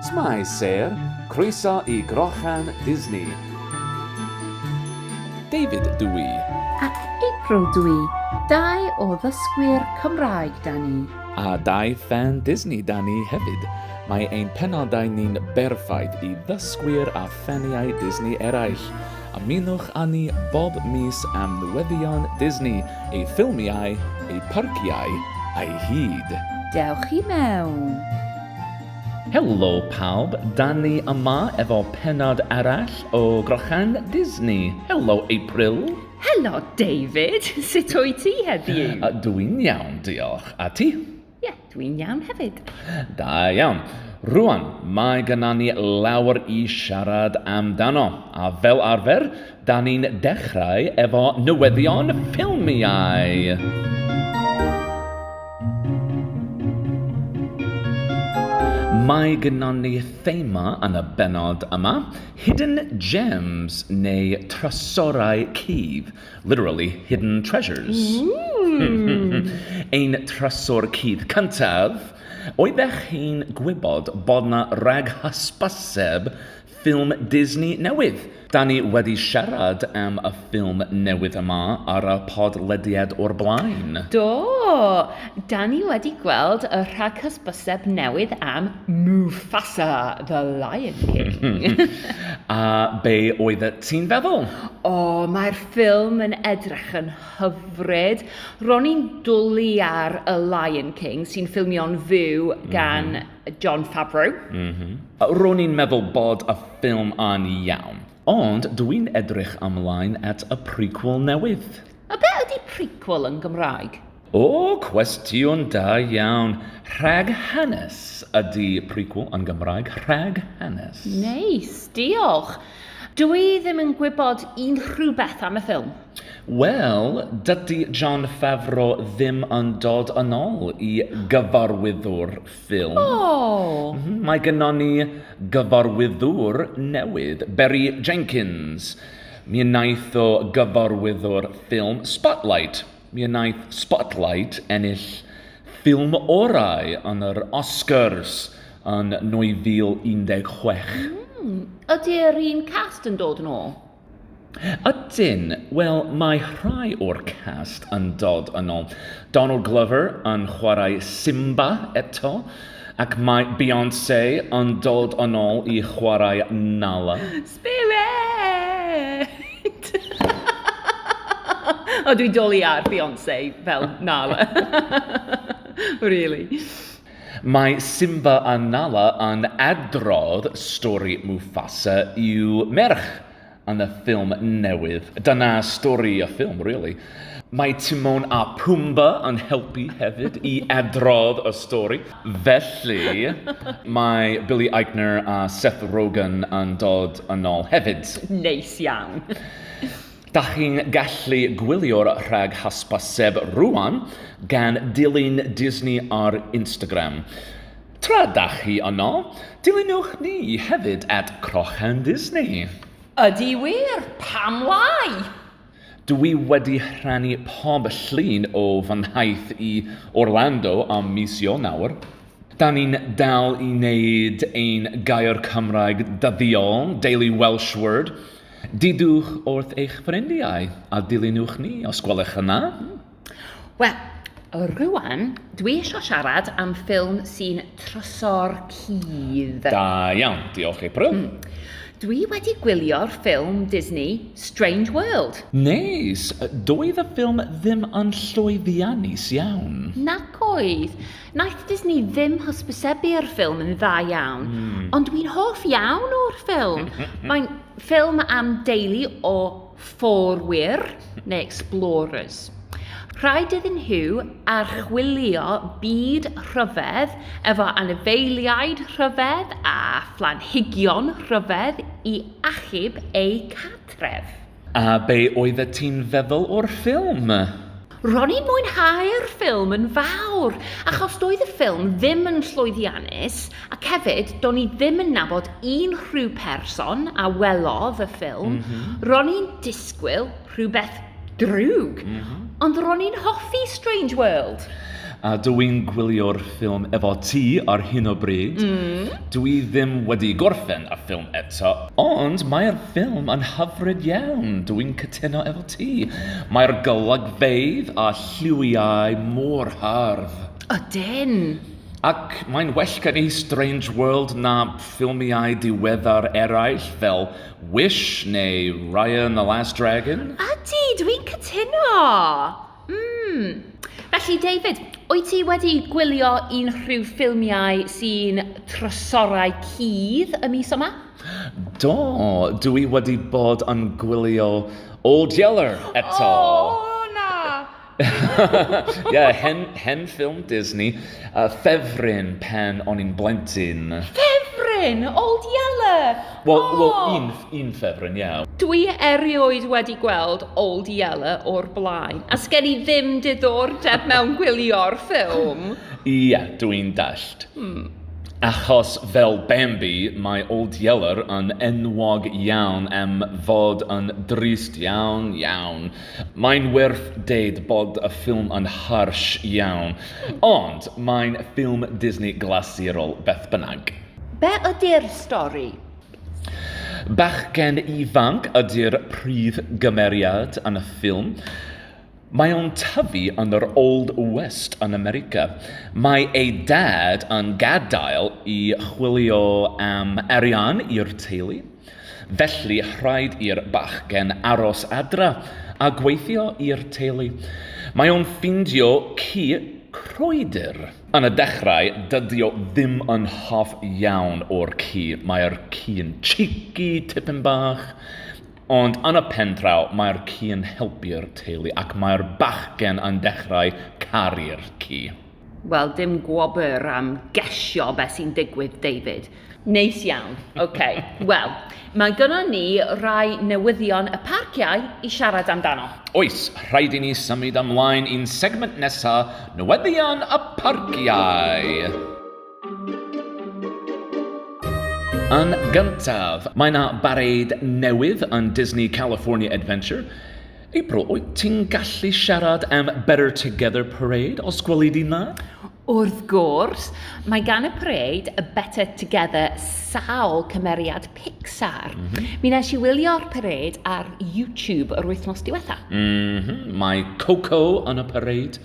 Shwmae Sêr, croeso i Grochan Disney. David dw i. A April dw i, dau o ddysgwyr Cymraeg 'da ni. A dau ffan Disney 'da ni hefyd. Mae ein penodau ni'n berffaith i ddysgwyr a ffaniau Disney eraill. Ymunwch â ni bob mis am newyddion Disney, ei ffilmiau, ei parciau a'i hyd. Dewch i mewn! Helo pawb, dan ni yma efo pennod arall o Grochan Disney. Helo April! Helo David! Sut wyt ti heddiw? Dw i'n iawn, diolch. A ti? Ie, yeah, dwi'n iawn hefyd. Da iawn. Rwan, mae gyda ni lawer i siarad amdano, a fel arfer, da ni'n dechrau efo newyddion ffilmiau. Mae gynnal ni thema yn y benod yma, Hidden Gems neu Trysorau Cudd. Literally hidden treasures. Ein trysor cudd cyntaf, oeddech chi'n gwybod bod 'na rag hysbyseb ffilm Disney newydd? Da ni wedi siarad am y ffilm newydd yma ar y podlediad o'r blaen. Do, da ni wedi gweld y rhaghysbyseb newydd am Mufasa the Lion King. A be oeddet ti'n feddwl? O, mae'r ffilm yn edrych yn hyfryd. Ro'n i'n dwlu ar y Lion King, sy'n ffilmio'n fyw mhm. gan mm -hmm. John Favreau. Mm -hmm. Ro'n i'n meddwl bod y ffilm yn iawn. Ond dw i'n edrych ymlaen at y prequel newydd. A be ydy prequel yn Gymraeg? O, cwestiwn da iawn. Rhag hanes ydy prequel yn Gymraeg. Rhag hanes. Neis, diolch. Dw i ddim yn gwybod unrhyw beth am y ffilm. Wel, dydy Jon Favreau ddim yn dod yn ôl i gyfarwyddwr ffilm. O! Mae gynnon ni gyfarwyddwr newydd, Barry Jenkins. Mi wnaeth o gyfarwyddwr ffilm Spotlight. Mi wnaeth Spotlight ennill ffilm orau yn yr Oscars yn 2016. Mm, ydy'r un cast yn dod yn ôl? Ydyn, wel mae rhai o'r cast yn dod yn ôl. Donald Glover yn chwarae Simba eto, ac mae Beyonce yn dod yn ôl i chwarae Nala. Spirit! o, dwi'n dwlu ar Beyonce fel Nala. really. Mae Simba a Nala yn adrodd stori Mufasa i'w merch yn y ffilm newydd. Dyna stori y ffilm, really. Mae Timon a Pumba yn helpu hefyd i adrodd y stori. Felly, mae Billy Eichner a Seth Rogen yn dod yn ôl hefyd. Neis iawn! Da chi'n gallu gwylio'r rhag hysbyseb rŵan gan dilyn Disney ar Instagram. Tra da chi yno, dilynwch ni hefyd at Crochenddisney! Ydy wir! Pam lai? Dw i wedi rhannu pob llun o fy nhaith i Orlando am mis Ionawr. Da ni'n dal i wneud ein gair Cymraeg dyddiol, Daily Welsh Word. Deudwch wrth eich ffrindiau a dilynwch ni os gwelwch yn dda! Wel, rwan, dwi eisiau siarad am ffilm sy'n troso'r cudd. Da iawn, diolch April. Mm. Dwi wedi gwylio'r ffilm Disney Strange World. Neis! Doedd y ffilm ddim yn llwyddiannus iawn. Nac oedd. Naeth Disney ddim hysbysebu'r ffilm yn dda iawn. Mm. Ond dwi'n hoff iawn o'r ffilm. Mae'n ffilm am deulu o fforwyr neu explorers. Rhaid iddyn nhw archwilio byd rhyfedd efo anifeiliaid rhyfedd a phlanhigion rhyfedd i achub eu cartref. A be oeddet ti'n feddwl o'r ffilm? Ro'n i'n mwynhau'r ffilm yn fawr, achos doedd y ffilm ddim yn llwyddiannus, ac hefyd, do'n i ddim yn nabod unrhyw person a welodd y ffilm. Mm -hmm. Ro'n i'n disgwyl rhywbeth drwg, mm -hmm. ond ro'n i'n hoffi Strange World. A dw i'n gwylio'r ffilm efo ti ar hyn o bryd. Mm. Dw i ddim wedi gorffen y ffilm eto, ond mae'r ffilm yn hyfryd iawn, dw i'n cytuno efo ti. Mae'r golygfeydd a lliwiau mor hardd. Ydyn! Ac mae'n well gen i Strange World na ffilmiau diweddar eraill fel Wish neu Raya and the Last Dragon. Ydy, dwi'n cytuno! Mm. Felly, David, wyt ti wedi gwylio unrhyw ffilmiau sy'n trysorau cudd y mis yma? Do, dw i wedi bod yn gwylio Old Yeller eto. O, na! Ie, hen, hen ffilm Disney, uh, ffefryn pen o'n i'n blentyn. Ffefryn! Old Yeller! Wel, oh. well, un, un ffefryn, ie. Yeah. Dw i erioed wedi gweld Old Yeller o'r blaen, a sgen i ddim diddordeb mewn gwylio'r ffilm. Ie, yeah, dw i'n dallt. Hmm. Achos fel Bambi, mae Old Yeller yn enwog iawn am fod yn drist iawn, iawn. Mae'n werth deud bod y ffilm yn harsh iawn, ond mae'n ffilm Disney glasurol beth bynnag. Be ydy'r stori? Bachgen ifanc ydy'r prif gymeriad yn y ffilm. Mae o'n tyfu yn yr Old West yn America. Mae ei dad yn gadael i chwilio am arian i'r teulu, felly rhaid i'r bachgen aros adra a gweithio i'r teulu. Mae o'n ffindio ci croedur. Yn y dechrau, dydi o ddim yn hoff iawn o'r ci. Mae'r ci'n cheeky, tipyn bach. Ond yn y pen draw, mae'r ci yn helpu'r teulu ac mae'r bachgen yn dechrau caru'r ci. Wel, dim gwobr am gesio be sy'n digwydd, David. Neis iawn. Ok. Wel, mae gynnon ni rai newyddion y parciau i siarad amdano. Oes, rhaid i ni symud ymlaen i'n segment nesa, newyddion y parciau! Yn gyntaf, mae yna bareid newydd yn Disney California Adventure. April, wyt ti'n gallu siarad am Better Together Parade os gweli di na? Wrth gwrs, mae gan y pareid y Better Together sawl cymeriad Pixar. Mm -hmm. Mi nes i wylio'r pareid ar YouTube yr wythnos diwetha. Mm -hmm. Mae Coco yn y pareid.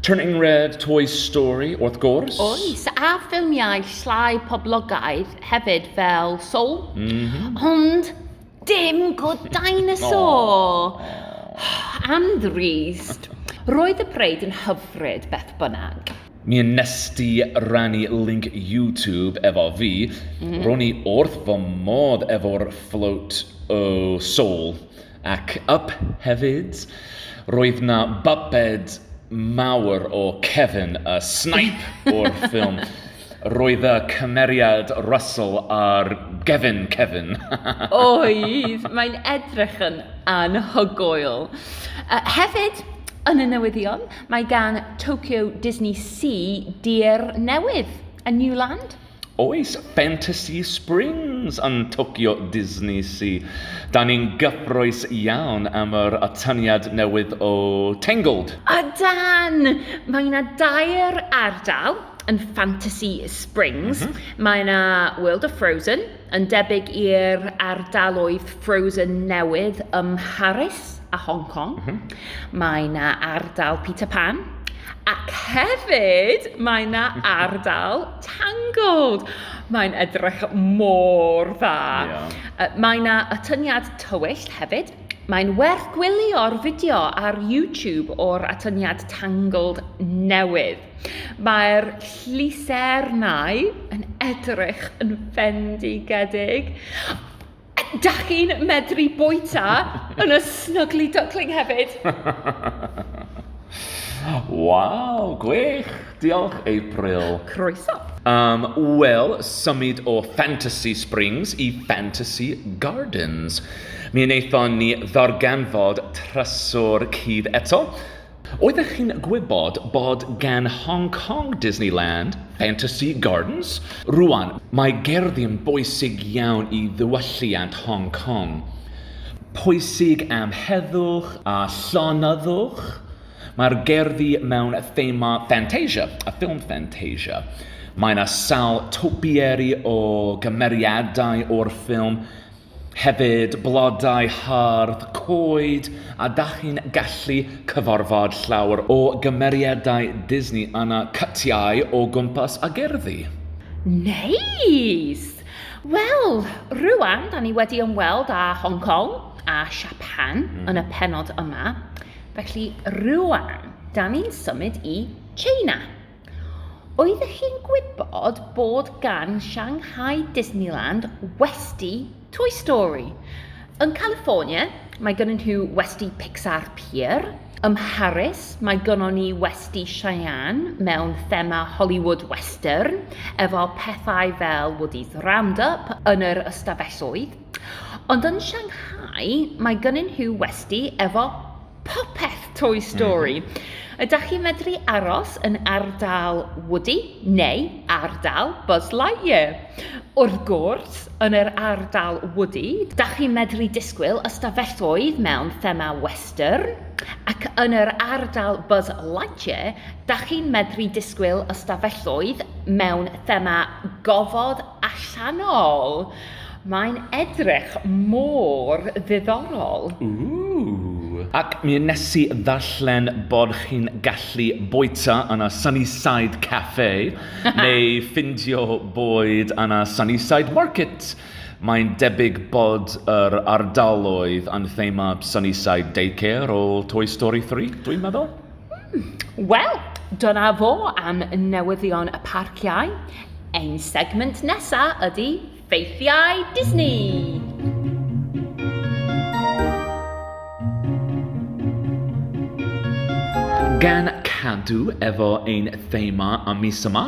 Turning Red, Toy Story, wrth gwrs. Oes, a ffilmiau llai poblogaidd hefyd fel Soul. Mm -hmm. Ond dim Good Dinosaur. oh. Am the reast. Roedd y preid yn hyfryd beth bynnag. Mi yn nesti rannu link YouTube efo fi, mm. ro'n i wrth fy modd efo'r float o soul. Ac up hefyd, roedd 'na bubbed mawr o Kevin a Snipe o'r ffilm. Roedd y cymeriad Russell ar gefn Kevin. Oedd, mae'n edrych yn anhygoel. Uh, hefyd, yn y newyddion, mae gan Tokyo Disney Sea dir newydd, a New Land. Oes Fantasy Springs yn Tokyo DisneySea? Da ni'n gyffrous iawn am yr atyniad newydd o Tangled! Ydan! Mae yna dair ardal yn Fantasy Springs. Mae yna World of Frozen, yn debyg i'r ardaloedd Frozen newydd ym Mharis. a Hong Kong. Mm -hmm. Mae yna ardal Peter Pan. Ac hefyd, mae yna ardal Tangled. Mae'n edrych mor dda. Yeah. Mae yna atyniad tywyll hefyd. Mae'n werth gwylio'r fideo ar YouTube o'r atyniad Tangled newydd. Mae'r llusernau yn edrych yn fendigedig. Dach chi'n medru bwyta yn y Snuggly Duckling hefyd? Waw, gwych! Diolch, April. Croeso. Um, Wel, symud o Fantasy Springs i Fantasy Gardens. Mi wnaethon ni ddarganfod trysor cudd eto, Oeddech chi'n gwybod bod gan Hong Kong Disneyland Fantasy Gardens? Rŵan, mae gerddi yn bwysig iawn i ddiwylliant Hong Kong. Pwysig am heddwch a llonyddwch, mae'r gerddi mewn thema Fantasia, y ffilm Fantasia. Mae yna sawl topiary o gymeriadau o'r ffilm, Hefyd, blodau hardd, coed a dach chi'n gallu cyfarfod llawer o gymeriadau Disney yna, cytiau o gwmpas a gerddi. Neis! Wel, rŵan da ni wedi ymweld â Hong Kong a Siapan mm. yn y penod yma, felly rŵan da ni'n symud i China. Oeddech chi'n gwybod bod gan Shanghai Disneyland westy Toy Story? Yn California, mae gynnon nhw westy Pixar Pier. Ym Mharis, mae gynnon ni westy Cheyenne mewn thema Hollywood Western, efo pethau fel Woody's Roundup yn yr ystafelloedd. Ond yn Shanghai, mae gynnon nhw westy efo popeth Toy Story. Mm -hmm. Ydych chi'n medru aros yn ardal Woody neu ardal Buzz Lightyear? Wrth gwrs, yn yr ardal Woody, da chi'n medru disgwyl ystafelloedd mewn thema western, ac yn yr ardal Buzz Lightyear, da chi'n medru disgwyl ystafelloedd mewn thema gofod allanol. Mae'n edrych mor ddiddorol. Ooh. Ac mi wnes i ddarllen bod chi'n gallu bwyta yn y Sunnyside Cafe neu ffindio bwyd yn y Sunnyside Market. Mae'n debyg bod yr ardaloedd yn themâd Sunnyside Daycare o Toy Story 3, dwi'n meddwl? Hmm, wel, dyna fo am newyddion y parciau. Ein segment nesa ydy ffeithiau Disney. Gan cadw efo ein thema am mis yma,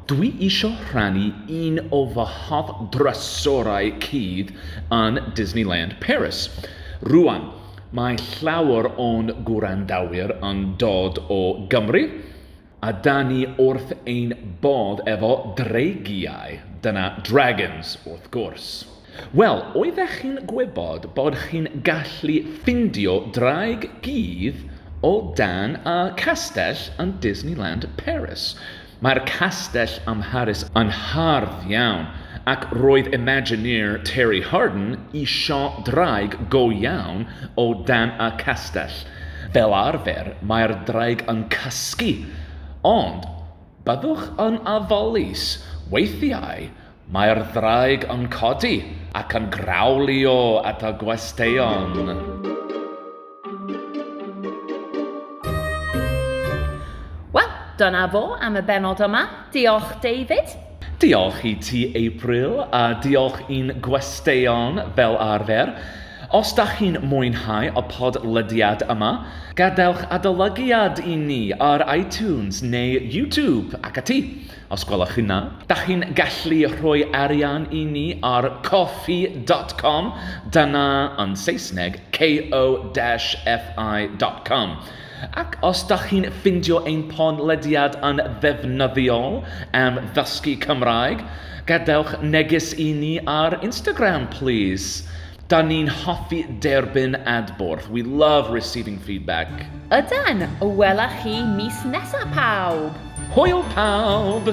dwi isio rhannu un o fy hoff drysorau cudd yn Disneyland Paris. Rwan, Mae llawer o'n gwrandawyr yn dod o Gymru, a da ni wrth ein bodd efo dreigiau, dyna dragons wrth gwrs. Wel, oeddech chi'n gwybod bod chi'n gallu ffindio draig gudd o dan y castell yn Disneyland Paris? Mae'r castell ym Mharis yn hardd iawn, ac roedd Imagineer Terry Harden isio draig go iawn o dan y castell. Fel arfer, mae'r draig yn cysgu, ond byddwch yn ofalus, weithiau Mae'r ddraig yn codi ac yn grawlio at y gwesteion. Wel, dyna fo am y bennod yma. Diolch, David. Diolch i ti, April, a diolch i'n gwesteion fel arfer. Os da chi'n mwynhau y podlediad yma, gadewch adolygiad i ni ar iTunes neu YouTube ac ati. Os gwelwch chi'n dda. Dach chi'n gallu rhoi arian i ni ar ko-fi dot com, dyna yn Saesneg ko-fi dot com. Ac os dach chi'n ffindio ein podlediad yn ddefnyddiol am ddysgu Cymraeg, gadewch neges i ni ar Instagram plîs. Da ni'n hoffi derbyn adborth. We love receiving feedback. Ydan! Wela chi mis nesa pawb! Hwyl pawb!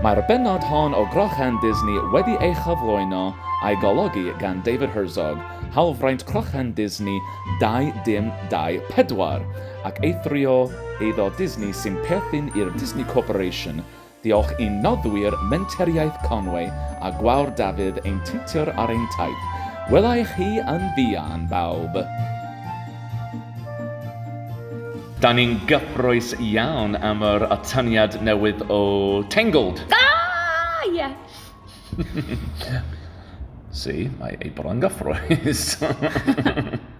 Mae'r bennod hon o Grochan Disney wedi ei chyflwyno a'i golygu gan David Herzog, hawlfraint Crochan Disney 2024, ac eithrio eiddo Disney sy'n perthyn i'r Disney Corporation, Diolch i noddwyr Menteriaeth Conwy a Gwawr Dafydd ein tiwtor ar ein taith. Wela i chi yn fuan, bawb! Da ni'n gyffrous iawn am yr atyniad newydd o Tangled! Da! Ie! See, mae ei bod yn gyffrous.